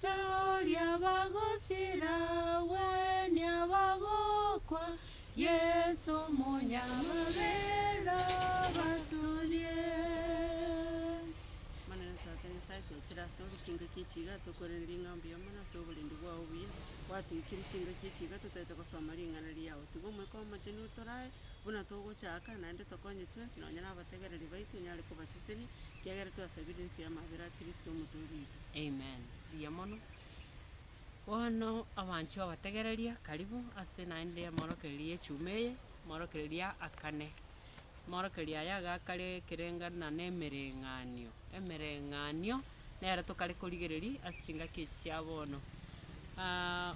Tari abagosira, gweni abagokwa, Yesu omonyamabera abatorie. Omonene Tata Nyasae, twachire ase ore chingaki echi iga, tokorere ring'ao mbuya mono ase oborendi bwao obuya, gwatoikire chingaki echi iga totaete gosoma ring'ana riao. Tiga Omoika Omochenu otorae buna togochaka, naende tokonye twensi, nonya nabategereri baito, onyare kobasesenia, Kiagera twasabire inse y'amabera a Kristo Omotooria oito. Amen. Mbuya mono. Bono abanchwa abategereria, karibu ase naende amorokererio y'echuma eye, amorokererio aa akane. Amorokererio aya iga akare ekerengana na emereng'anio. Emereng'anio nero tokare korigereria ase chingaki echi chia bono.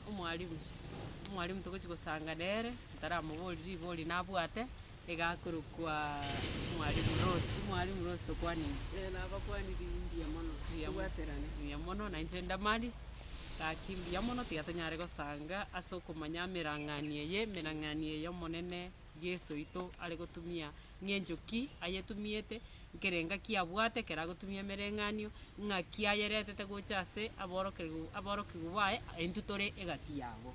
Omwalimu, omwalimu togochi gosanga nere, ntaramoborie ribori nabwate. Egakorokwa Mwalimu Rose. Mwalimu Rose tokwane inwe. Eh, nabakwanire imbuya mono. Mbuya mo- Tobwaterane. mbuya mono na inche Damaris gaki mbuya mono tiga tonyare gosanga ase okomanya amerang'anio eye emerang'anio eye omonene Yeso oito are gotumia ng'encho ki ayetumiete nkere ngaki abwate ekero agotumia emereng'anio ng'aki ayeretete gocha ase aborokeru aborokigwa baye intwe tore egati yabo.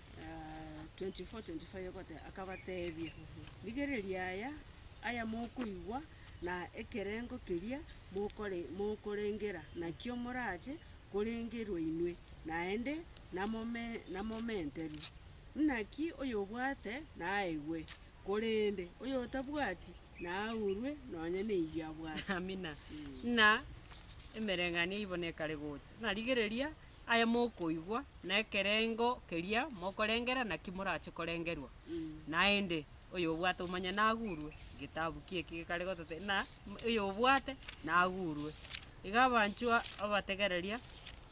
24:25 akabateebia, Rigereria aya, aya mokoigwa, na ekerengo keria mokorengera nakio morache korengerwa inwe, naende namomenterwe. Naki oyobwate naegwe, korende oyotabwati naaurwe nonya neyio abwate. Amina. Na emereng'anio eibo nekare gocha, na rigereria. Aya mokoigwa nekerengo keria mokorengera naki morache korengerwa? Naende, oyobwate omanye nagurwe, egetabu ki eki gekare gototebia ng'a na oyobwate nagurwe. Iga abanchwa abategereria,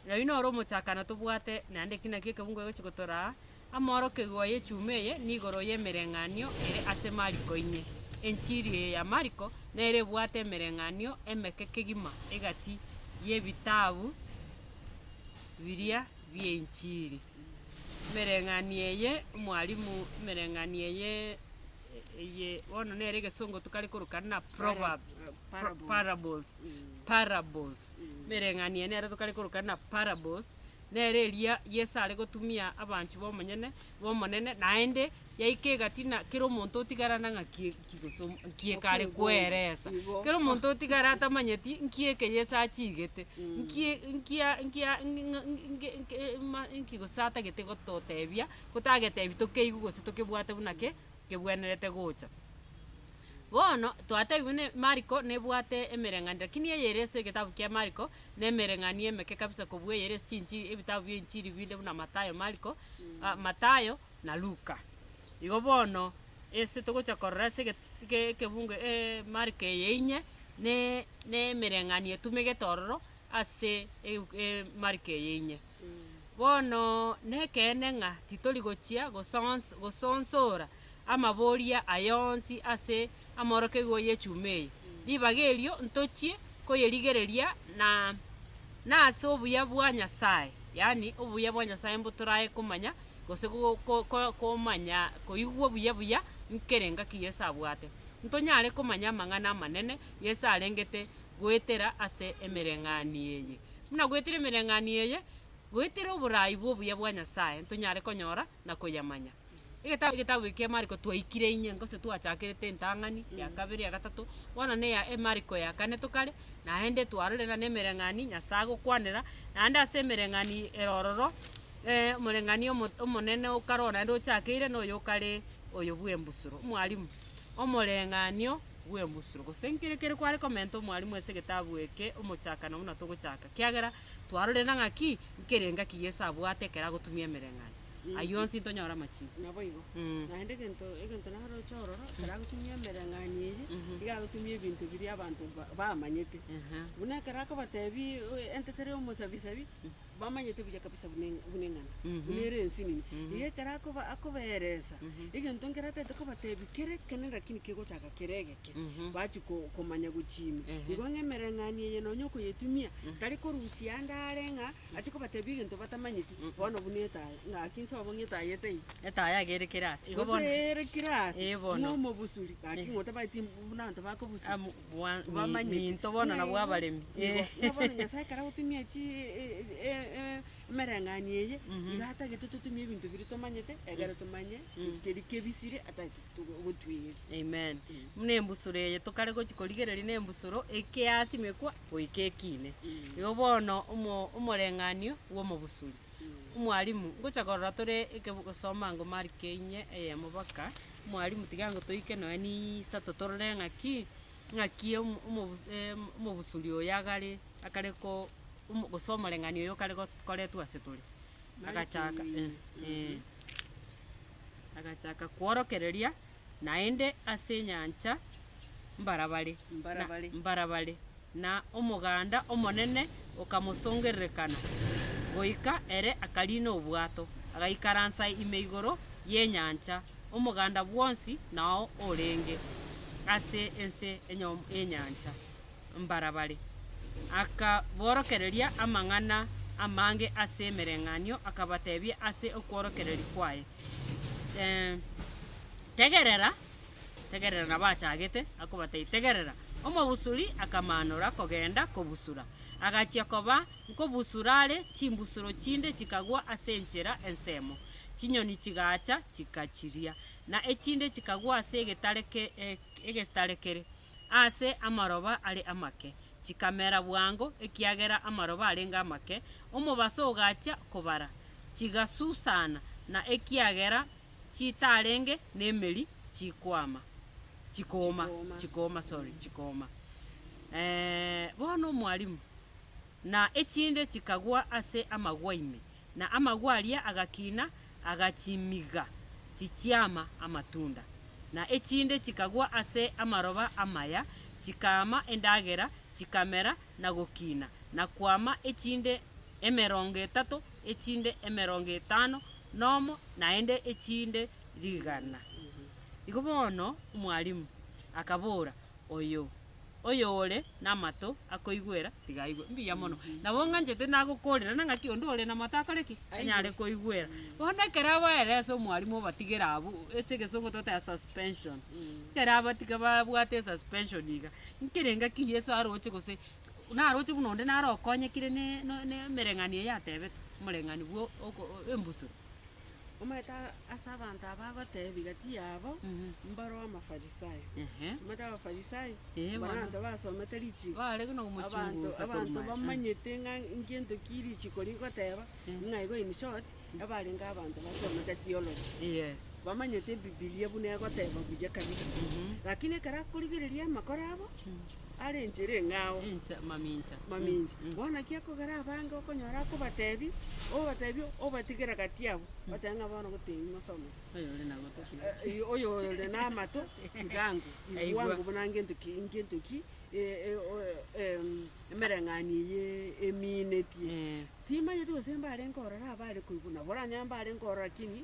oyio noro omochakano tobwate naende eki nakio ekebungo egochi gotoraa. Amoorokigwa y'echuma eye nigoro y'emereng'anio ere ase Mariko inye. Enchiri eye ya Mariko nere ebwate emereng'anio emeke kegima egati y'ebitabu biria bi'enchiri. Emereng'anio eye omwarimu emereng'anio eye eye bono nere egesongo tokare korokana na proverb parables parables. Emereng'anio eye nere tokare korokana na parables. Nere eria Yeso are gotumia abanchwa b'omonyene b'Omonene, naende yaika egati na kera omonto otigarana ng'a nki nki gose omo nki ekare kweresa. Kera omonto otigare atamanyeti nki eke Yeso achiigete, nki nki a nki a ng'e ng'a nge nge nge ma nki gose atagete gototebia, gotagetebi tokeigwe gose tokebwate buna ki, kebwenerete gocha. Bono, twataigwe ne Mariko nebwate emereng'anio, lakini eye ere ase egetabu kia Mariko nemereng'anio emeke kabisa kobua eye ere ase chinchiri, ebitabu bia enchiri binde buna Mathayo, Mariko, ah, Mathayo na Luka. Igo bono, ase togocha korora ase eget eke ekebungo eh Mariko eye inye, ne nemereng'anio etumegete ororo. ase eu- emariko eye inye. Bono nekeene ng'a titori gochia gosons- gosonsora amaboria aya onsi ase amorokerigwa y'echuma eye, ribaga erio ntochie koyerigereria na nase obuya bwa Nyasae, yaani obuya bwa Nyasae mbotorae komanya gose go- ko- ko- komanya koigwa buya buya nkere ngaki Yeso abwate. Ntonyare komanya amang'ana amanene Yeso arengete goetera ase emereng'anio eye. Buna goetera emereng'anio eye, goetera oboraai bw'obuya bwa Nyasae ntonyare konyora na koyamanya. Egetabu egetabu eke kia Mariko twaikire inye, gose twachakerete entang'ani ya kabere, ya gatato, bono na eya Mariko ya kane tokare, naende twarorire na nemereng'ani Nyasae agokwanera, naende ase emereng'ani ero ororo, omoreng'ani omo omonene o kare oyo naende ochakeire na oyo okare oyo bw'embusuro. Mwalimu, omoreng'anio. bw'embusuro, gose nkere kere kware komenta omwarimu ase egetabu eke omochakano buna togochaka, kiagera twarorire ng'a ki nkere engaki Yeso abwate ekero agotumia emereng'anio. Ayio onsi ntonyore amachiiko. Naboigo. Mm. Naende egento egento naroche ororo, ekero agotumia emereng'anio eyio, Mhm. iga agotumia ebinto biria abanto ba- bamanyete. Ehe. Buna ekero akobatebi, oe- entetera ya omosabisabi, bamanyete buya kabisa buna eng'a- buna eng'ana, buna ere ense nini. Erio ekero akoba- akobeeresa, egento nkere atagete kobateebia, kera ekene rakini kegochaka kere egeke, bachia ko- komanya gochia ime. Igo ng'a emereng'anio eye nonya okoyetumia, tari korusia ande are ng'a ache kobateebia egento batamanyeti, bono buna etaya, ng'aki nse obo ng'a etaya ete ime. Etaya iga ere kera ase. Igo Gose bono. ere kera ase, Ee, bono. ng'a omobusuri, gaki ng'a otabaeti buna abanto bakobusura. Amu- bwa minto bono nabwo abaremi. Igo bono Nyasae ekero agotumia chii emereng'anio eye, iga atagete totumie ebinto biria tomanyete, egere tomanye keria kebisire atagete gotwegeri. Amen. Buna embusuro eye tokare gochia korigereria na embusuro ekeasimekwa goika ekiine. Igo bono omo- omoreng'anio bwa omobusuri. Omwalimu, ngocha korora tore ekebo gosoma ango marike inye eyemo boka. Omwalimu, tiga ango toike noe nisato torore ng'aki ng'aki omo omobu em omobusuri oyo agare akare ko omo gose omoreng'anio oyo okare go koretwa ase tore. Agachaka eh eh agachaka kworokereria. naende ase enyancha mbarabare, Mbarabare. mbarabare, na omoganda omonene okamosongererekana, goika ere akariina obwato, agaikaransa ime igoro y'enyancha, omoganda bwonsi nao orenge ase ense enyom- enyancha. mbarabare, akaborokereria amang'ana amange ase emereng'anio, akabatebia ase okworokereria kwaye, Tegerera, tegerera, nabo achagete akobatebia, Tegerera. Omobusuri akamaanora kogenda kobusura, agachia koba nkobusura are, chimbusuro chinde chikagwa ase enchera ensemo, chinyoni chigacha chikachiria, na echinde chikagwa ase egetare kere. aase amaroba are amake, chikamera bwango, ekiagera amaroba arenge amake, omobaso ogachia kobara, chigasusana, na ekiagera chitarenge nemeri chikwama, chikooma, chikooma, sorry, chikooma. Eh, bono Mwalimu, na echinde chikagwa ase amagwa ime, na amagwa aria agakina agachimiga tichiama amatunda, na echinde chikagwa ase amaroba amaya, chikaama endagera, chikamera na gokina na kwama, echinde emerongo etato, echinde emerongo etano nomo, naende echinde rigana. Igo bono omwalimu akabora. oyo. Oyore namato akoigwera tiga aigwe. Mbuya mono. Nabo ng'anchete nagokorera na ng'aki onde ore namato akore ki? Anyare koigwera. Bono ekero abaeire ase omwarimu obatigere abwo, ase egesongo togoteba suspension. Ekero abatiga babwate suspension iga, nkere ng'aki Yeso aroche gose naroche buna onde naro okonyekire ne- ne- nemereng'anio eyatebetwe, omoreng'anio bwo oko embusuro. Omanyete ase abanto aba agotebi gati yabo, mbaro Amafarisai. Omanyete Abafarisai, mbaro abanto basomete richiko, abanto abanto bamanyete ng'a ngento ki richiko rigoteba, ng'a igo in short, ebarenge abanto basomete theology, bamanyete Ebibilia buna egoteba buya kabisa. Lakini ekero akorigereria amakoro abo. Are enchera eng'ao. Incha, mamincha. Mamincha. Mm, mm. Bono naki akogera abange okonyora akobatebi, obatebi obatigera gati abo, batebe ng'a bono gotebi mosome. Oyo ore na goto tiga. Eh, eh, Oyo ore namato tigangu Aigwa. igwangu buna ngento ki ngento ki eh, eh, o- eh, em, emereng'anio eye eminetie. Eh. Timanyeti gose mbarenge ororo abare koigwa, nabo oranyore mbarenge ororo lakini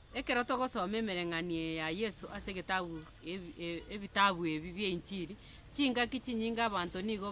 Ekero togosoma emereng'anio eye ya Yeso ase egetabu ebitabu ebi bi'enchiri, chingaki chinyinge abanto nigo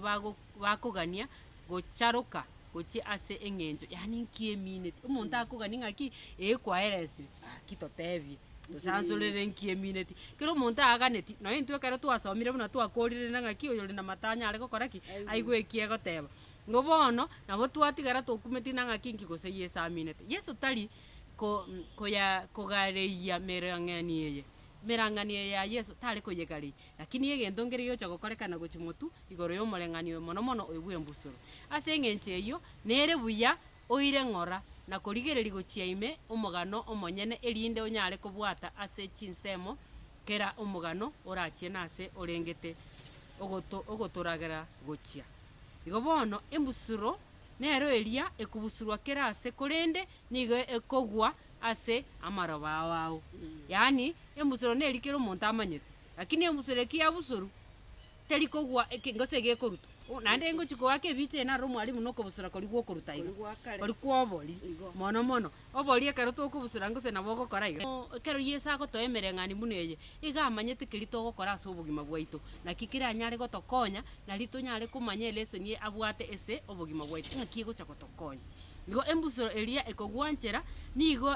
bakogania gocharoka gochia ase eng'encho yaani nki emineti. Omonto akogani ng'aki ee kwaeresire gaki totebie tosansorere nki emineti. Kero omonto aganeti nonye intwe ekero twasomire buna twakorire na ng'aki oyore na amato anyare gokora ki? Aigue eki egoteba. Igo bono nabo twatigara tokumeti na ng'aki nki gose Yeso aminete. Yeso tari ko, koya, kogareyia merang'ani eye. Emerang'ani eye ya Yeso tare koyegareyia, lakini egento nkeria giocha gokorekana gochia motu igoro y'omoreng'ani oyo mono mono oyo bw'embusuro. Ase engencho eyio, nere buya oire ng'ora na korigereria gochia ime omogano omonyene erinde onyare kobwata ase chinsemo kera omogano orachie nase orengete ogoto, ogotoragera gochia. Igo bono embusuro nero eria ekobusurwa kera aase, korende nigo ekogwa ase amaroba ao ao. Yaani, embusuro neri kera omonto amanyete, lakini embusuro eki yabusoru, teri kogwa eke gose iga ekorutwa. Bo naende ngochi koaka ebiche, narora omwalimu na okobusura koria gwa okoruta iga, Kori gwa kare. kori kwa obori, Igo. mono mono. Oborie ekero tokobusora gose nabo ogokora iga. Ekero Yeso agotoa emereng'anio buna eye, iga amanyete keria togokora ase obogima bwaito, naki keranyare gotokonya, nari tonyare komanya eleseni eye abwate ase obogima bwaito, ng'aki egocha gotokonya. Igo embusuro eria ekogwanchera nigo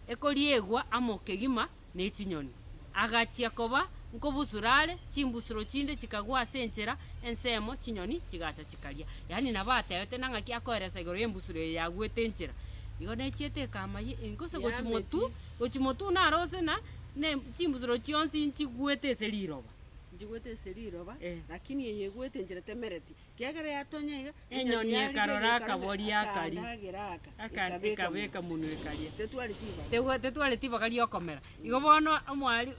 ekoriegwa amo kegima. ne chinyoni, agachia koba nkobusura are, chimbusuro chinde chikagwa ase enchera ensemo, chinyoni chigacha chikaria. Yaani nabo atebete na ng'aki akoeresa igoro y'embusuro eye yagwete enchera. Igo nechiete ekama ye engusu gochi motu, Yametie. gochi motu buna are ose na ne chimbusuro chionsi nchigwete ase riroba. Njigwete ase riroba, Eh. lakini eye egwete enchera temereti, Enyoni ekarora akaboria akaria, ekabeka munwa ekaria. Tetwareti ibaga riokomera. Igo bono omwari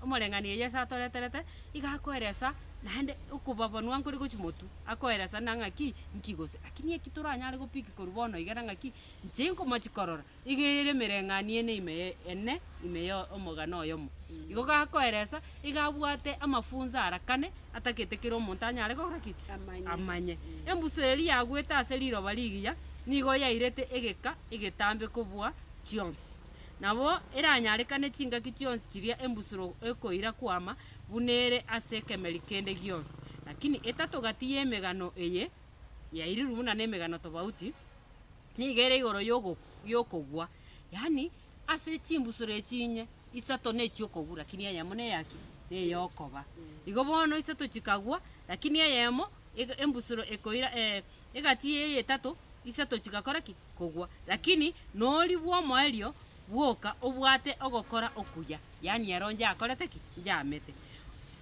omoreng'anio oye ase atoreterete, iga akoeresa naende okobabonwa nkore gochia motwe, akoeresa na ng'aki, nki gose. Lakini eki toranyare go pick korwa bono iga na ng'aki, inche nkomochi korora, Iga eye ere emereng'anio ene ime ye ene ime ye omogano oyomo. Igo gakoeresa iga abwate amafunso aarakane atagete kera omonto anyare gokora ki? Amanye. Amanye. Embusu eria yagwete ase riroba rigiya nigo yairete egeka egetambe kobua chionsi. Nabo eranyarekane chingaki chionsi chiria embusuro ekoira kwama buna ere ase ekemeri kende gionsi. Lakini etatoga ti y'emegano eye yairirwe buna nemegano tobauti. Nigo ere igoro y'okogwa, yaani ase chimbusuro echi inye, isato nechi'okogwa, rakini eyemo neyaki? Ney'okoba. Igo bono isato chikagwa, rakini eyemo embusuro ekoira egati eye etato, isato chigakora ki? Kogwa. Rakini noria bw'omoerio, bwoka obwate ogokora okuya. yaani ero njakorete ki? Njamete.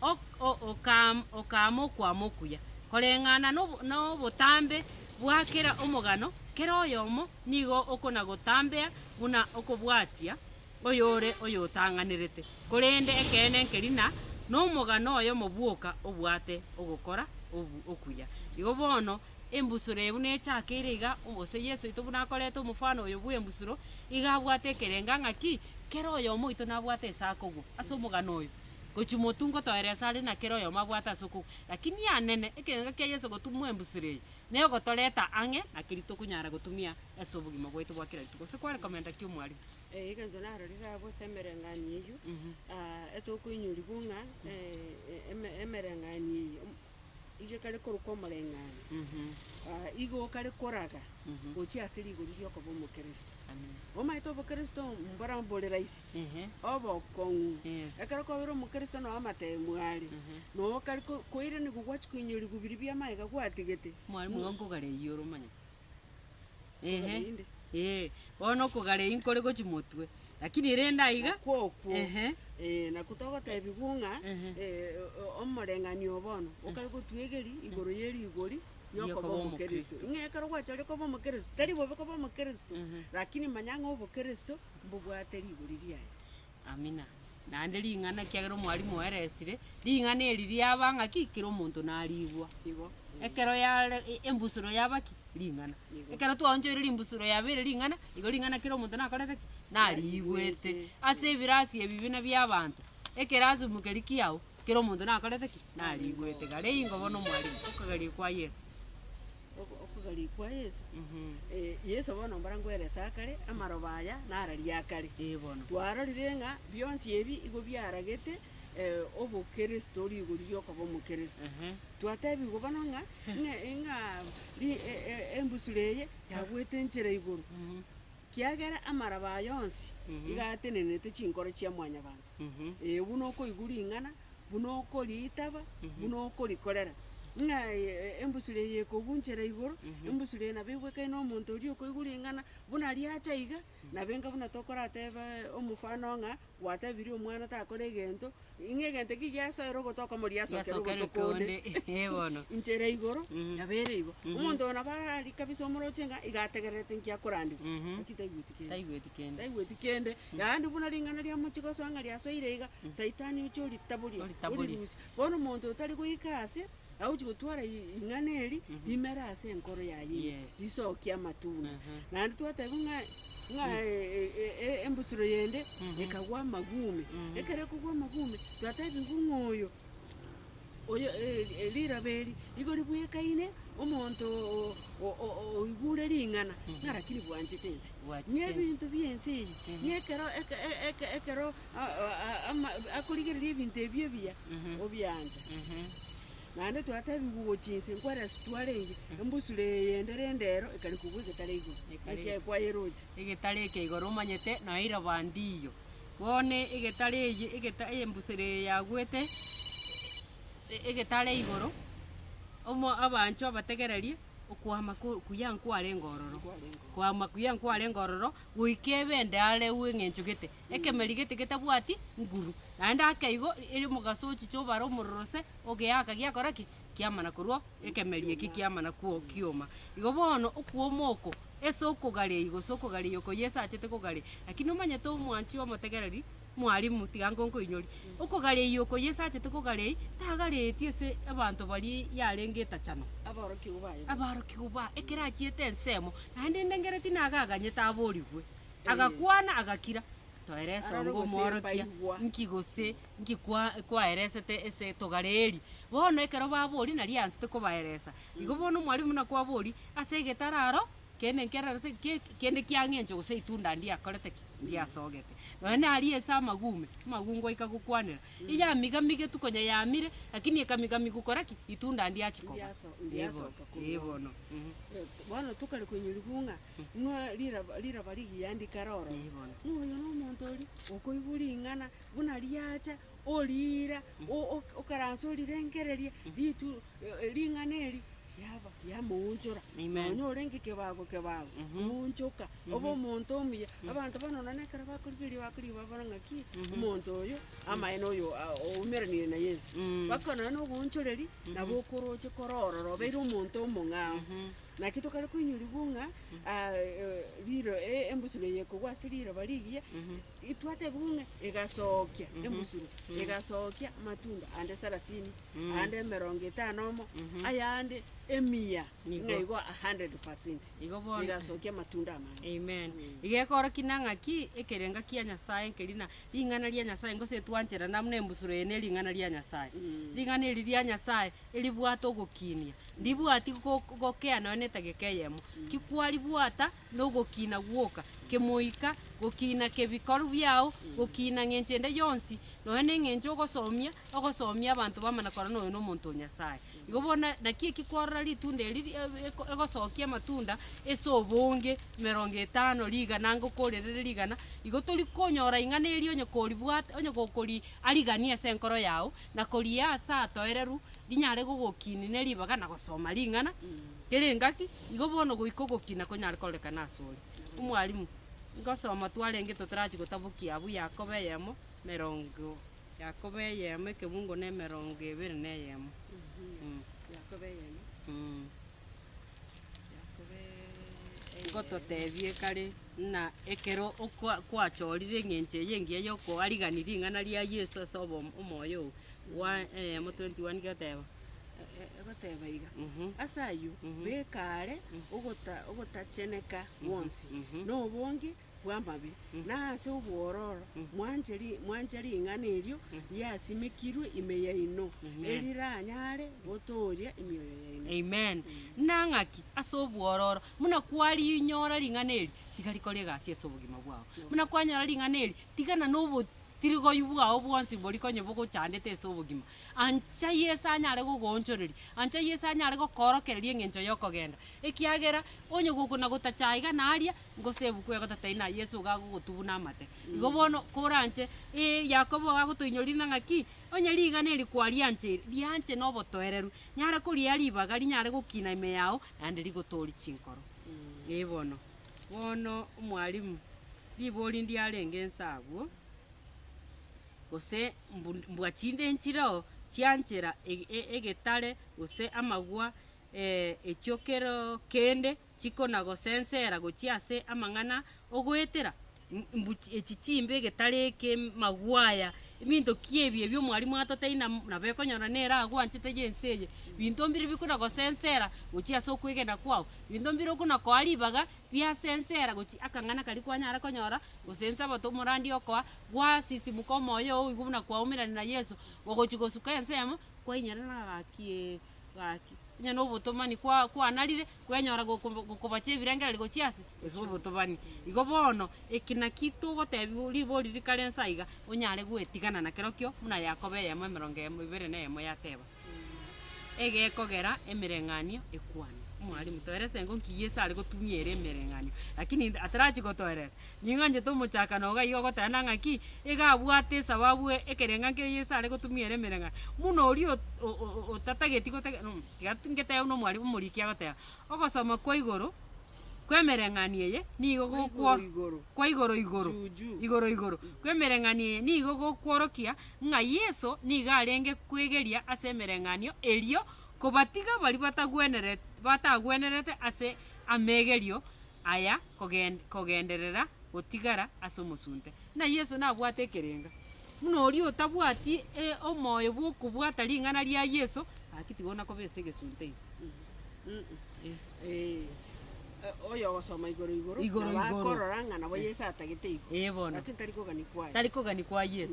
Ok o okaam okaama okwama okuya, koreng'ana nobo nobotambe bwa kera omogano, kera oyomo nigo okonagotambea buna okobwatia oyore oyotang'anerete, korende ekeene nkeri na nomogano oyomo bwoka obwate ogokora obu okuya. Igo bono Embusuro eye buna echakeire iga, omosio Yeso oito buna akorete omofano oyo bw'embusuro, iga abwate ekerenga ng'a ki, kera oyomo oito nabwate ase akogwa ase omogano oyo, gochia motungo toere ase are na kera oyomo abwate ase okogwa. Lakini anene, ekerenga kia Yeso gotumwa embusuro eye nere ogotoreta ang'e na keria tokonyara gotumia ase obogima bwaito bwa kera rituko. Gose kware komenta ki omwarimu? Eh, egento narorire abwo ase emereng'anio eyio, etokoinyorigwa ng'a, eh, eme- emereng'anio eyio. Inche kare korokwa omoreng'anio, igo kare koraga gochia ase rigori ri'okoba Omokristo. Omaete Obokristo mbora bore rahisi, obokong'u. Ekero kwabeire Omokristo nao amateemwa are, nao kare koiranigwa gwachia koinyorigwa biria bi'amagega gwatigete. Ehe, ee, bono okogara eyio nkore gochia motwe, lakini ere ende aiga, Nakwo okwo. ehe, Eh, nakwo togotebigwa ng'a Ehe. eh, o- omoreng'anio oo bono okare gotwegeria igoro ye rigori Riokoba riokoba omokristo. Omokristo. Ng'a ekero gwachorire koba omokristo, tari bobe koba omokristo, Ehe. lakini manya ng'a obokristo mbobwate rigori riaye. Amina. Naende ring'ana, ekiagera omwalimu oeresire, ring'ana eri riaba ng'a ki? Kera omonto narigwa. Igo. Ekero yare, e- embusuro yaba ki? Ring'ana. Igo. Ekero twaonchoire rimbusuro yabeire ring'ana, igo ring'ana kera omonto nakorete ki? Narigwete. Narigwete. Ase ebirasi ebi buna biabanto, ekerasimo keria kiao, Kera omonto nakorete ki? Nariigwete. Garia ingo bono Omwarimu, okogarigia kwa Yeso. Ogo- okogarigia kwa Yeso. Mhm. Eh, Yeso bono mbarango ere ase akare, amaroba aya narari akare. Ee bono. Twarorire ng'a bionsi ebi igo biaragete eh, obokristo, rigori riokoba omokristo. Ehe. Twatebigwa bono ng'a ng'e- ng'a ri- e- e- embusuro eye yagoete enchera igoro, Mhm. kiagera amaroba aya onsi Mhm. iga atenenete chinkoro chia Mwanyabanto. ee, buna okoigwa ring'ana, buna okoriitaba, buna okorikorera, ng'a embusuro eye ekogunchera igoro, embusuro eye nabo egwekaine omonto oria okoigwa ring'ana, buna riacha iga, nabo enga buna tokorateba omofano ng'a gwatebirie omwana takore egento, ng'a egento ekio giasoire ogotoka iga moriasokera Riasokere ogotoka onde. konde, eh, bono. Inche ere igoro, nabo ere igo. Omonto oyo nabo arari kabisa omoroche ng'a iga ategererete inki akorandigwa, lakini taigweti kende. Taigweti kende. Taigweti kende, Naende buna ring'ana ria mochigosoa ng'a riasoire iga, Saitani oche oritaborie, Oritaborie. orirusie. Bono omonto otari goika aase, agochi gotwara i- ing'ana eri, imere ase enkoro yaye ime, Yes. risokie amatunda. Aha. Naende twatebiwa ng'a ng'a e- e- e- e- embusuro yende ekagwa amagume. Ekero ekogwa amagume, twatebiwa ng'a oyo oyo rirabe eri igo ribwekaine, omonto oigure ring'ana narakiri bwanchete ense, nebinto bi'ense eye, nekero ekero akorigereria ebinto ebi ebiya, obiancha. Naende twatebigwa ogo chinse nkwarase twarenge, embusuro eye yendere endero ekari kobua egetare igoro, ekiagera kwayeroche. Egetare eke igoro omanyete, naye iraba ndiyo. Bono egetare eye, egeta, eyembusero eye yaagwete e- egetare igoro, omo abanchwa bategererie okwama ko- okuya nkwarenge ororo, kwama kuya nkwarenge ororo, goika ebe ende are wi eng'encho gete, ekemeri gete getabwati nguru. Naende ake igo, eri omogaso ochicha obare omororo se, ogeaka giakora ki? kiamana korwa ekemeria eki kiamana kwao kioma. Igo bono okwoma oko ase okogareia gose okogareia oko Yeso achete kogareia. Lakini omanyete omwanchwi omotegereri, Mwalimu, tiga ngonkoinyori. Okogareia oko Yeso achete kogareia, tagareeti ase abanto baria yarenge etachano. Aborokigwa baye boka. Abarokigwa ba ekero achiete ensemo, naende endengereti naga aganyete aborigwe. Agakwana agakira, Toera esongo Arorwe gose omworokia, mpaigwa. nki gose Inki kwaeresete ase etogare eri? Bono ekero baboria nari ansete kobaeresa. Igo bono omwalimu buna kwaboria, Ase egetara aro, kende nkerarete ki? Kende kiang'encho gose itunda ndiakorete ki? Ndiasogete. Nonye naria ase amagume, amagungu aika gokwanera, Eyamigamigetwe konya yamire, lakini ekamigami gokora ki? Itunda ndiachia koba. Ndiasoka korwa Ee, bono. Eeh. Bono tokare koinyurigwa ng'a inwe riraba rigiya ndikare oro. Ee, bono. Ng'a oyo nomonto oria okoigwa ring'ana. buna riacha oriira, o- o- okaranse orirengererie ritu e- ring'ana eri, riaba riamoonchora. Amen. Nonya orenge kebago kebago, Mhm. oonchoka, obe Mhm. omonto omuya. Abanto bono nonya ekero bakorigereria bakorigia babora ng'a ki, Mhm. omonto oyo amaene oyo a- oumeranire na Yeso. Mm. Baka nonya na oboonchoreri, nabo Mhm. okoroche kore ororo, obeire omonto omong'ao. Mhm. Naki tokare koinyurigwa ng'a ah, eh, riro e- embusuro eye ekogwa ase riroba rigiya, Mhm. Twatebigwe ng'a egasookia embusuro, egasookia amatunda aande sarasini, aande emerongo etano omo, ayande emia ng'a igo a hundred percent. Igo bono. Egasookia amatunda amange. Amen. Iga ekorokina ng'a ki ekerenga kia Nyasae nkeri na ring'ana ria Nyasae, gose etwancherana buna embusuro eye ne ring'ana ria Nyasae. Ring'ana eri ria Nyasae eribwate ogokinia, ndibwati go- gokea nonya na etageka eyemo, ki kwaribwata. nogokiina gwoka kemoika, gokiina kebikorwa biao, gokiina ng'encho ende yonsi, nonya neng'encho ogosomia ogosomia abanto bamanya korora noyo nomonto o Nyasaye. Igo bono naki eki kwarora ritunda eri ri- e- e- egosokia amatunda ase obonge, emerongo etano, rigana anga okorerere rigana, igo tori konyora ing'ana eria onye koribwate onye gokori ariganie ase enkoro yao, na koriaa ase atoereru, rinyare gogokiini ne ribaga na gosoma ring'ana. Kera engaki, igo bono goika ogokina konyare kororekana asore. Omwalimu, ngosoma twarenge totarachie gotabokia abwo Yakobo eyemo, emerongo Yakobo eyemo ekebungo na emerongo ebere na eyemo. Ngototebie kare ng'a ekero okwa- kwachorire eng'encho eye engiya yokoarigani ring'ana ria Yeso ase obo- omoyo oo, gwa- eyemo 21 goteba. egoteba iga, Ase ayio beka aare ogota, ogotacheneka gwonsi, na obonge bw'amabe, na ase obwororo mwanche ri, mwanche ring'ana erio riasimekirwe ime yaino, eriranyare gotooria emioyo yaino. Amen. Na ng'aki? Ase obwororo. Buna kwarinyora ring'ana eri, tiga rikore egasi ase obogima bwao. Buna kwanyora ring'ana eri, tigana na obotirigoyu bwao bwonsi boria konye bogochandete ase obogima. Ancha Yeso anyare gogoonchoreria. Ancha Yeso anyare gokoorokereria engencho y'okogenda. Ekiagera onye gokona gotacha iga na aria, gose ebuku ego tatai na Yeso iga agogotubuna amate. Igo bono koranche, ee, Yakobo iga agotoinyoririna ng'a ki? Onye rigana eri kwariancheire, rianche nobotoereru. Nyare koria ribaga rinyare gokina ime yao, naende rigotoorie chinkoro. Ee bono. Bono, Omwalimu, ribori ndiarenge inse agwo. gose mbwa chinde enchireo chianchera egetare gose amagwa echio kero kende chikona gosensera gochia ase amang'ana ogoetera mbwa echi chimbe egetare eke magwa aya ebinto ki ebi ebio mwarimu atoteire nabo ekonyora nere agwanchete ense eye binto mbire bikona gosensera gochia ase okwegena kwao binto mbire okona koa ribaga biasensera gochia akang'ana karia kwanyara konyora gose nse oboto omoradi okoa. gwasisimuka omoyo oo oigwa buna kwaumerana na Yeso, ogochia gosuka ensemo, kwainyora na gaki ee, gaki. Onye na obotomani kwa- kwanarire, kwenyora gokobo gokobacha ebirengererio gochia ase ase obotomani. Igo bono, eki naki togotebiwa ribori rikare inse aiga, onyare gwetigana na kerokio buna Yakobo eyemo emerongo emo ebere na eyemo yateba. egekogera emereng'anio ekwane. Omwalimu, toerese ng'o nki Yeso are gotumia ere emereng'anio. Lakini inde atarachie gotoeresa. Ning'anchete omochakano iga iga ogotebana ng'aki iga abwate esababu ekerenga nkeria Yeso are gotumia ere emereng'anio. Buna oria o- o- o- otatageti gotega tiga ngetebe buna omwalimu omoriki agoteba, ogosoma kwa igoro. kw'emereng'anio eye nigo gokwo- Igoro-igoro. kwa igoro igoro Juju. igoro igoro kw'emereng'anio eye nigo gokworokia ng'a Yeso nigo arenge kwegeria ase emereng'anio erio kobatiga baria batagweneret batagwenerete ase amegerio aya kogen kogenderera gotigara ase omosunte. Buna Yeso nabwate ekerenga, buna oria otabwati e- omoyo bw'okobwata ring'ana ria Yeso, gaki tigo nakoba ase egesunte ime. Igoro igoro. Ee bono. Tari kogani kwa Yeso.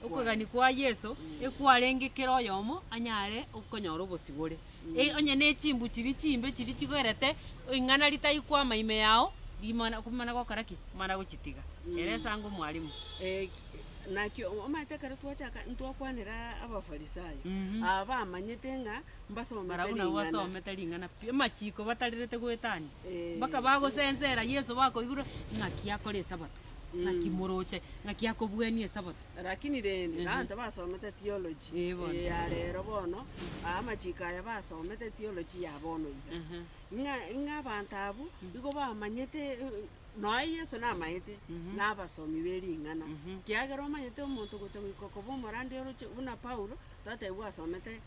Okogani kwa Yeso ekwarenge kera oyomo anyare okonyora obosibore. E- onye ne chimbu chiria chimbe chiria chigoerete ing'ana ritayikwama ime yao, rimana ko- mana gokora ki? Mana gochitiga. Ere esango mwalimu. Mhm. Barabwo nabo basomete ring'ana pi, amachiko batarerete goetania, mpaka bagosensera Yeso bakoigure ng'aki akore Esabato, ng'aki moroche, ng'aki akobuania Esabato. Lakini rende, Ehe. abanto basomete theology Ee, bono. eh, ya rero bono, aa amachiko aya basomete theology ya bono iga, Ehe. ng'a ng'a abanto abwo igo bamanyete eh, noe Yeso namaete Mhm. na abasomi be ring'ana, Mhm. kiagera omanyete omonto gocha goika okoba omorandi oroche buna Paulo, totebi gwasomete.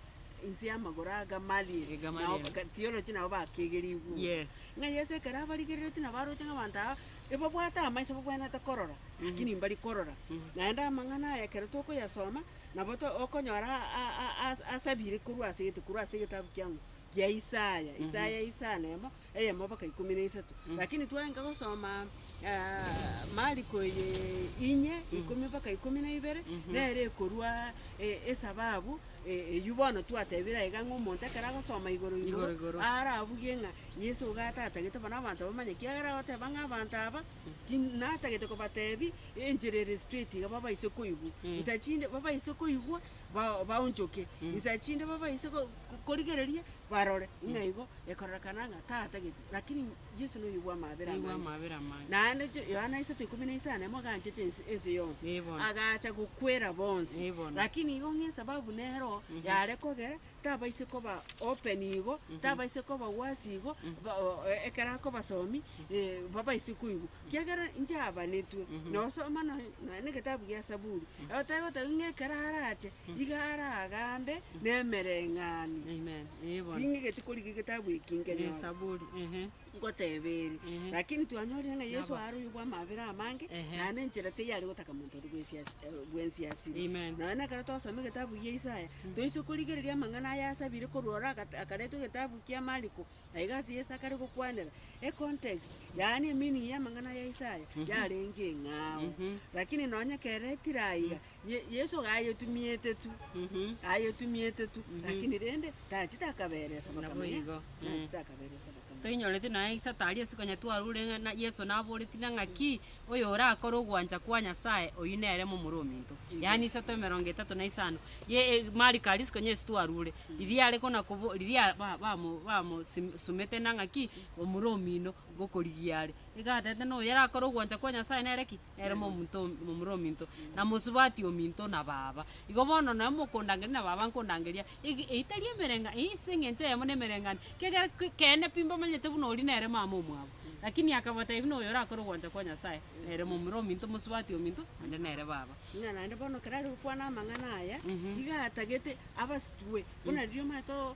inse y'amagoro a Gamaliel, Eh, nao Gamaliel. ga- theology nabo bakegerigwe. Yes. Ng'a Yeso ekero abarigereretie nabaroche ng'a abanto aba ebabwate amaiso babwenerete korora, lakini mbari korora. Mhm. Naende amang'ana aya ekero tokoyasoma, nabo to- okonyora a- a- a- as- asabire korwa ase egete- korwa ase egetabu kiang'u, kia Isaya, Isaya isa nemo, eyemo mpaka ikomi na isato, lakini twarenge gosoma Mariko eye inye, ikomi mpaka ikomi na ibere, nere ekorwa esababu eyio bono twatebire aye iga ng'a omonto ekero agosoma igoro igoro Igoro igoro. arabuge ng'a Yeso iga atatagete bono abanto bamanye, kiagera agoteba ng'a abanto aba, ti natagete kobatebi enchera ere straight iga babaise koigwa, nsa chinde babaise koigwa. ba- baonchoke inse ya chinde babaise go- go- korigereria barore, ng'a igo ekorerekana ng'a tatagete, lakini Yeso noyo bwa amabera Nigo amange. amabera amange. Naende jo- Yohana isato ikomi na isano emo aganchete ense ense yonsi, Ee bono. agacha gokwera bonsi, Ee bono. lakini igo ng'a esababu nero yare kogera tabaise koba open igo, tabaise koba wasi igo, ba- o- e- ekero akobasomi, eh, babaise koigwa. Kiagera inche abanetwe, nosoma nonya nonya na egetabu gia Saburi, oteba oteba ng'a ekero arache, iga aragambe nemereng'anio. Amen. Ee bono. Ting'egete korigia egetabu eki nkenyoro. Esaburi, ehe. ngoteeba ere. Ehe. Lakini twanyorire ng'a Yeso Nabo. aroiyo bw'amabera amange, Ehe. naende enchera teiyo are gotaka monto oria bw'esiasi- eh, bw'ensiasiri. Amen. Nonya nekero twasoma egetabu gia Isaya, toise korigereria amang'ana aya asabire korwa ore agate- akaretwa egetabu kia Mariko, na iga ase Yeso akare gokwanera. Econtext, yaani emeaning y'amang'ana ya Isaya, yarenge eng'ao. Mhm. Lakini nonya kere tire aiga, Ye- Yeso gayetumiete tu, Mhm. gayetumiete tu, Mhm. lakini rende tachete akaberesa Nabo bakamanya, igo, mm. tachete akaberesa bakamanya. Toinyoreti naye Isa tari ase konya twarure ng'a na Yeso naboreti na ng'aki oyo orakore ogwancha kwa Nyasaye oyio nere momura ominto. Igo. Yaani isato emerongo etato na isano. Ye e, mariko aria ase konya ase twarure. Riria are kona kobo riria ba- bamo bamo sim- sumete na ng'aki omura omino bokorigia are. Iga atete na oyo arakore ogwancha kwa Nyasaye nere ki? nere momonto momura ominto, na mosubati ominto na baba. Igo bono nonye mokondangeria na baba nkondangeria ege eitari emereng'anio, eye ase eng'encho eyemo na emereng'anio, ekiagera ke- keene pi mbamanyete buna oria nere mama omwabo. Lakini akabatebia buna oyo orakore ogwancha kwa Nyasae, nere momura ominto, mosubati ominto, naende nere baba. Buna naende bono ekero are gokwana amang'ana aya, Mhm. iga atagete abasitwe, buna riria omanyete o-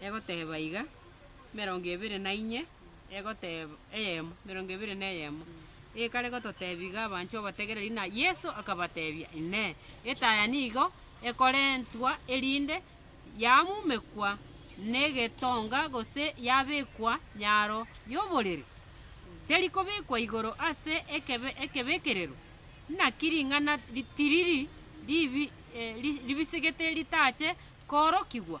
egoteba iga, emerongo ebere na inye egoteb eyemo, emerongo ebere na eyemo, ekare gototebia iga abanchwa obategereri ng'a Yeso akabatebia, Inee! Etaya nigo ekorentwa erinde yamumekwa negetonga gose yabekwa nyaro y'oborere? Teri kobekwa igoro ase ekebe ekebekerero? Naki ring'ana ri tiriri ribi eh, ri- ribisegete ritache koorokigwa?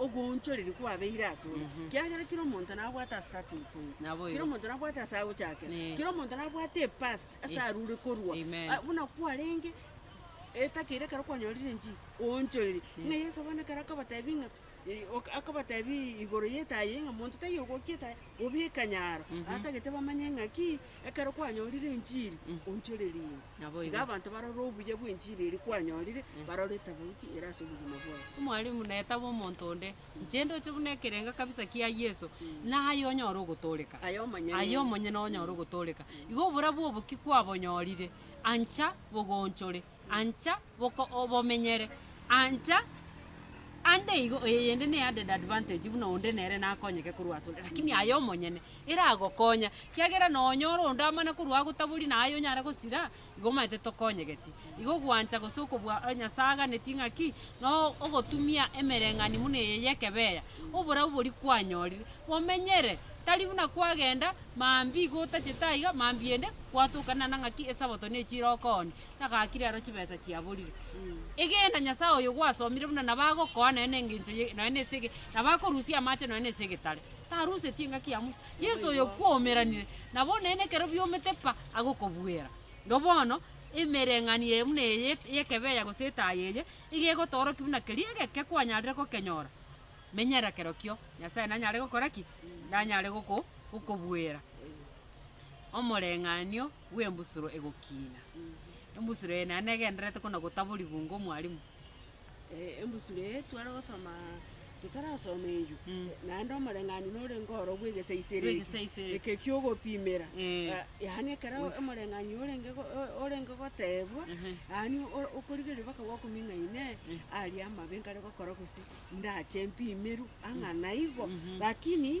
ogoonchoreria kwabeire asore, ekiagera kera omonto nabwate a starting point, Naboigo. kera omonto nabwate ase agochakera, Eh. kera omonto nabwate epasi ase arure korwa, Amen. Ah, buna kwarenge etakeire ekero kwanyorire inchiko, oonchoreria. Ng'a Yeso bono ekero akabatebi ng'a eh, ok- akabatebi igoro yetayi ng'a monto taiyo ogokia etayi, obeka nyaro, atagete bamanye ng'a ki, Ekero kwanyorire enchiri, onchorerie inwe. Naboigo. Tiga abanto barore obuya bw'enchiri eria kwanyorire, barore etabauti ere ase obogima bwabo. Omwalimu, na etabu omonto onde, inche ndoche buna ekerenga kabisa kia Yeso, na aye onyore ogotoreka. Aye omonyene. Aye omonyene onyore ogotoreka. Igo oborabu obo ki kwabonyorire? Ancha bogonchore. Ancha boka obomenyere. Ancha ande igo oye yende ne added advantage buna onde nere nakonyeke korwa asore lakini aye omonyene eragokonya kiagera nonya ore onde amana korwa agotaboria na aye onyare gosira igo omanyete tokonyegeti igo gwancha gose okobua nyasaye aganeti ng'a ki no ogotumia emereng'ani buna eye yekebeya oborabu bori kwanyorire bomenyere tari buna kwagenda mambi igo otachete aiga mambi ende gwatoka nana ng'a ki esabato nechire okoonia egaki rero chibesa chiaborire. Egena Nyasae oyo gwasomire buna nabo agokoa nonya nengencho ye nonya nase ege nabo akorusia amache nonya nase egetare. Taruseti engaki ya Musa. Yeso oyo kwoumeranire nabo neene ekero biomete pa agokobuera. Igo bono emereng'anio eye buna eye y'ekebe eya gose etayo eye iga egotoorokia buna keria egeke kwanyarire gokenyora menyera kerokio Nyasae nanyare gokora ki? Nanyare goko gokobuera. Omoreng'anio. bw'embusuro egokiina. Embusuro eye naende negendererete kona gotaborigwa onga omwarimu. Eh, embusuro eye tware gosoma totarasoma eyio Mm. naende omoreng'anio norenge oro bw'egesaiseri eki, Bw'egesaiseri. eke ki'ogopimera Eh. Ah, yaani ekero Bw'eges- omoreng'anio orenge go- o- orenge goteebwa Ehe. yaani o- okorigereria mpaka gwakong'ina ine Eh. aria amabe nkare gokora gose ndache mpimerwe ang'a naigo Mhm. lakini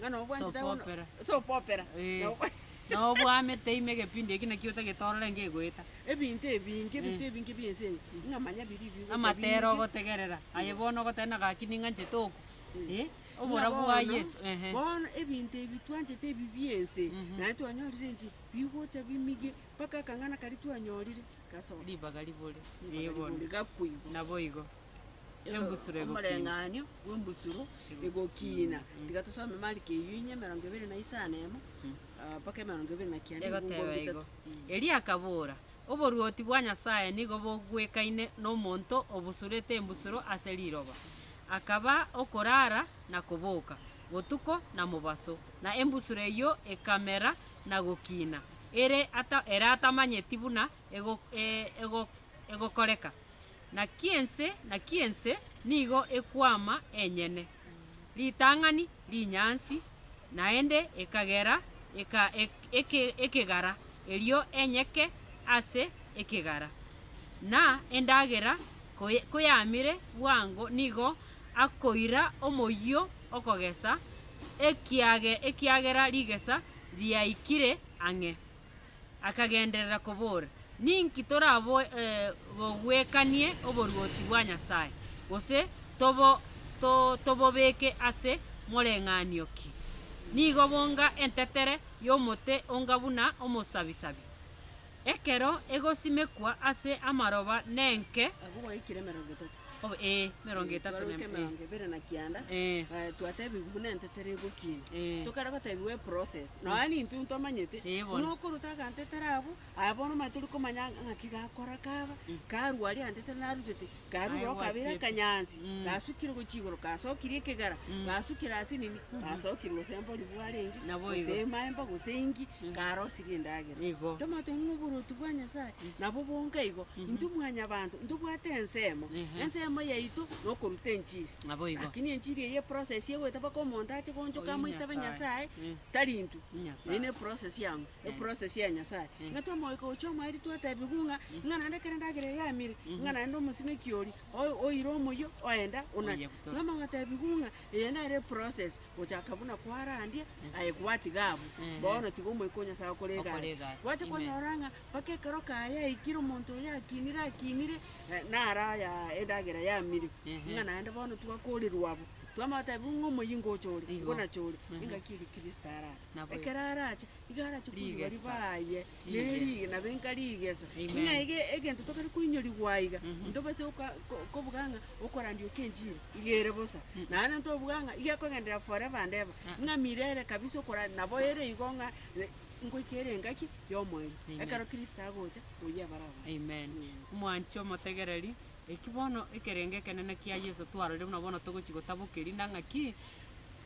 Ng'a nobwanchete bono. Sopopera. Sopopera. Eh, Na okwa- na obwamete ime egepindi eki naki otagete orore ngegoeta. Ebinto ebinge, ebinto ebinge bi'ense eye, ng'a manya biri bigocha Amatera binge. ogotegerera, aye bono ogoteba na gaki ning'anchete oku. Eh, Ng'a oborabu bwa bono, Yeso. Ehe. Bono ebinto ebi twanchete ebi bi'ense, Mhm. naye twanyorire nchi, bigocha bimige, mpaka akang'ana karia twanyorire gasoka. Ribaga ribore. Ribaga Eh, bono. ribore, gakoigwa. Naboigo. Embusuro egokiina. Omoreng'anio bw'embusuro egokiina. Tiga tosome Mariko eyio inye, emerongo ebere na isano na emo, ah, mpaka emerongo ebere na kianda, ebiungo Egoteba igo. bitato. Erio akabora, Oboruoti bwa Nyasae nigo bogwekaine nomonto obusurete embusuro ase riroba, akaba okorara na koboka, botuko na mobaso, na embusuro eyio ekamera na gokiina, ere ata- ere atamanyeti buna ego- e- ego- egokoreka. Naki ense, naki ense nigo ekwama enyene, ritang'ani rinyansi, naende ekagera eka, ek, eke, ekegara, erio enyeke ase ekegara. Na endagera koy, koyamire bwango nigo akoira omoyio okogesa, ekiage, ekiagera rigesa riaikire ang'e. akagenderera kobora, Ninki toraboe- eh, bogwekanie oboruoti bwa Nyasae, gose tobo, to, tobobeke ase moreng'anio ki? Nigo bonga entetere y'omote onga buna omosabisabi, ekero egosimekwa ase amaroba nenke, Agwo gwaikire emerongo etato. Obo ee, emerongo Eh, etato twaruete na- emerongo ebere na kianda Eh. eh, twatebigwa buna entetera egokina Eh. tokare gotebiwa eprocess nonya nintwe ntomanyete Eh, bono. buna okoruta agantetera abwo aye bono omanyete tori komanya ng'a- ng'aki gakora kaba Mm. karwa aria agantetera narutete karwa Aye oroka abere gwatiete. akanyansi Mm. gasukire gochia igoro gasokire ekegara Mm. gasukire ase nini gasokire gose mbori bwarenge Nabo gose igo. emamba gose engi Mm. garosirie endagera Igo. tomanyete ng'a oborotu bwa nyasaye Nabo bonga igo, intwe mwanyabanto ntobwate ensemo, ensemo yaito nokoruta enchiri. Lakini enchiri eye eprocess egoeta mpaka omonto ache goonchoka amoitabe Nyasae, tari intwe. Eye neprocess ang'u, eprocess ya Nyasae. Ng'a twamogoika gochia omwaeri twatebigwa ng'a, ng'a naende ekero endagera eye yamire, ng'a naende omosimeki oria o- oire omoyio oenda onache. Twamanya gotebigwa ng'a eye nere eprocess gochaka buna kwarandia aye gwatiga abwo, bono tiga omoika o Nyasae okore egasi. Gwacha kwanyora ng'a Mpaka ekero kaya yaikire, omonto oyo akinire akinire, naro aya endagera yamire, ng'a naende bono twakoorerwa abwo, twamanya goteeba ng'a omoyingo ocha ore, nigo nacha ore, engaki eri Kristo arache. Ekero arache, nigo arache koinyora ribaye, na eri- nabo enka rigesa. Ng'a ege egento tokare koinyorigwa aiga, ntobase goka- ko- kobuga ng'a okorandia oka enchili, iga ere bosa. Naende ntobuga ng'a iga ekogenderera forever and ever, ng'a mirere kabisa okorandia, nabo ere igo ng'a. Ngoika ere engaki y'omoerio. Amen. Ekero Kristo agocha, oyio abare abanto. Amen. Omwanchi omotegereri, eki bono ekerengo ekenene kia Yeso twarorire buna bono togochi gotabokeria na ng'aki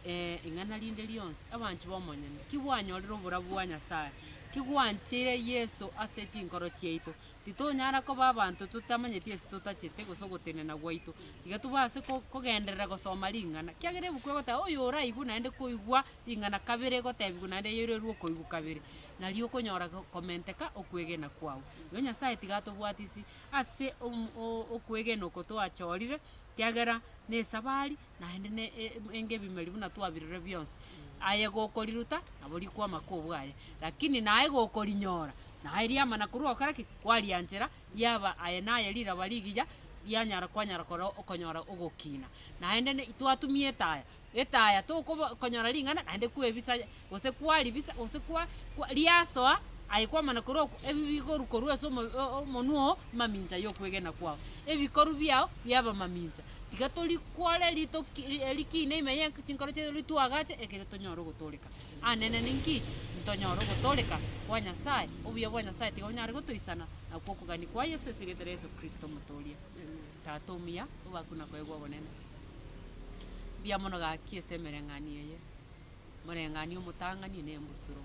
eh, ing'ana rinde rionsi. Abanchi b'omonyene, ki bwanyorire oborabu bwa Nyasae? Ki gwancheire Yeso ase chinkoro chiaito? Titonyara koba abanto totamanyeti ase totachete gose ogotenena gwaito. Tiga tobe ase ko- kogenderera gosoma ring'ana, kiagera ebuku egoteba oyo oraigwe naende koigwa Ing'ana kabere egotebigwa naende eyoirorerwe okoigwa kabere, na riokonyora komenteka okwegena kwao. Igo Nyasae tiga atobwatisi ase okwegena oko twachorire, kiagera nesabari naende ne engebimeri buna twabirorire bionsi. Aye gokoriruta nabo rikwama kobwaye, lakini naye gokorinyora naye riama na korwa ogokora ki? Kwarianchera riaba aye naye riraba rigiya rianyara kwanyara koreo okonyora ogokina. Naende ne twatumi etaya, etaya tokobo konyora ring'ana naende kwebisa gose kwaribisa gose kwa kwa riasoa aye kwamana korwa oku ebi bigoru korwa ase omo- o- omonwa oo mamincha yokwegena kwao ebikoru biao biaba mamincha tiga tori kwore ritoki ri- e- rikiina ime ye chinkoro chiaito ri twagache ekere tonyore ogotoreka anene ninki ntonyore ogotoreka kwa Nyasaye obuya bwa Nyasaye tiga onyare gotoisana nakwo okogania kwa Yeso ase erieta ria Yeso Kristo omotooria. Tata omuya, obakwe na koegwa obonene. Mbuya mono gaki ase emereng'anio eye, omoreng'anio omotang'ani na embusuro.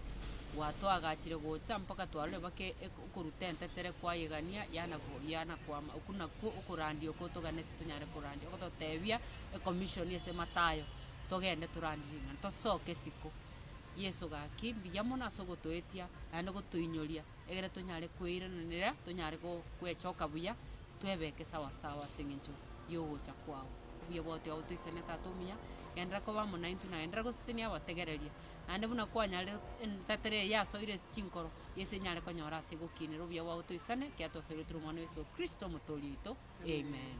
Gwa toagachire gocha mpaka twarore bake eko okoruta entetere kwayegania yana ko yana kwama oku nakwo okorandia oko toganeti tonyare korandia ogototebia e commission ase matayo togende torandie ring'ana tosoke isiko. Yeso gaki mbuya mono ase ogotoetia naende ogotoinyoria. egere tonyare kweirananera, tonyare go gwechoka buya, twebeke sawa sawa ase eng'encho y'ogocha kwao. Obuya bwao tiga botoisane Tata omuya, genderera koba amo naintwe, na genderera gosesenia abategereria, naende buna kwanyarire entetera eye yasoire ase chinkoro, yesi enyare konyora ase egokiinera. Obuya bwao toisane, ekiagera twasoirwe tore Omwana o Yeso Kristo, Omotoori oito. Amen.